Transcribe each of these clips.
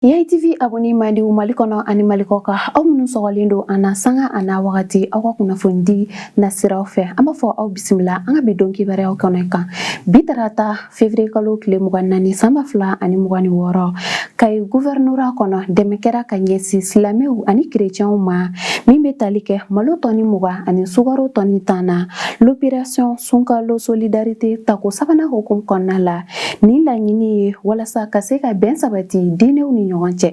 Yayi TV abonné mandiw Mali kɔnɔ ani Mali kɔkan aw minnu sɔgɔlen don an na sanga a n'a wagati aw ka kunnafonidi nasiraw fɛ an b'a fɔ aw bisimila an ka bi don kibaruyaw kɛnɛ kan bi tarata février kalo tile mugan ni naani san ba fila ani mugan ni wɔɔrɔ kayi guvɛrinora kɔnɔ dɛmɛ kɛra ka ɲɛsin silamɛw ani kerecɛnw ma min bɛ tali kɛ malo tɔni mugan ani sukaro tɔni tan na l'opération sunkalo solidarité tako sabanan hukumu kɔnɔna la Nin laɲini ye walasa ka se ka bɛn sabati diinɛw ni ɲɔgɔn cɛ.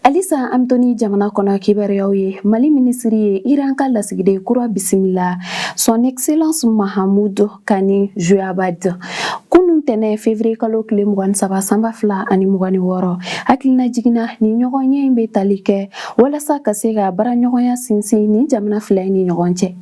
Halisa an bɛ to ni jamana kɔnɔ kibaruyaw ye mali minisiri ye iran ka lasigiden kura bisimila son excellence mahamudu kani joyabad kunun ntɛnɛn fevrier kalo tile mugan ni saba san ba fila ani mugan ni wɔɔrɔ hakilinajigin na nin ɲɔgɔnye in bɛ tali kɛ walasa ka se ka baaraɲɔgɔnya sinsin nin jamana fila in ni ɲɔgɔn cɛ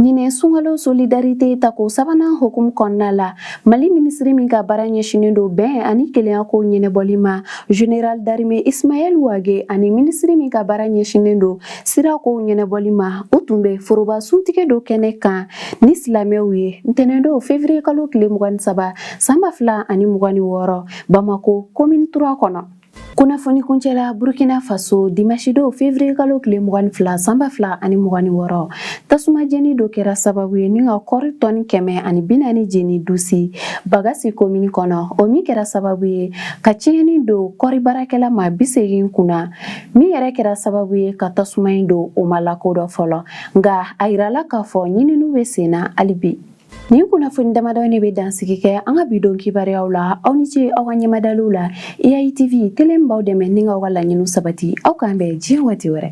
Ɲinɛ sunkalo solidarite tako sabanan hukumu kɔnɔna la mali minisiri min ka baara ɲɛsinen don bɛn ani kelenya ko ɲɛnabɔli ma général d'armée ismaɛl wage ani minisiri min ka baara ɲɛsinen don sira kow ɲɛnabɔli ma u tun bɛ foroba suntigɛ dɔ kɛnɛ kan ni silamɛw ye ntɛnɛndon fevriye kalo tile mugan ni saba san ba fila ani mugan ni wɔɔrɔ bamako komini trois kɔnɔ kunnafoni kuncɛ la burkina faso dimansi don fevriye kalo tile mugan ni fila san ba fila ani mugan ni wɔɔrɔ tasuma jeni dɔ kɛra sababu ye ni ka kɔri tɔni kɛmɛ ani bi naani jeni dusi bagasi komini kɔnɔ o min kɛra sababu ye ka tiɲɛni don kɔri baarakɛla maa bi segin kunna min yɛrɛ kɛra sababu ye ka tasuma in don o ma lakodɔn fɔlɔ nka a yirala k'a fɔ ɲininiw bɛ senna hali bi Nin kunnafoni damadɔ ne bɛ dansigi kɛ an ka bi don kibaruyaw la aw ni ce aw ka ɲɛmadaliw la EITV tele min b'aw dɛmɛ ni k'aw ka laɲiniw sabati aw k'an bɛn diɲɛ waati wɛrɛ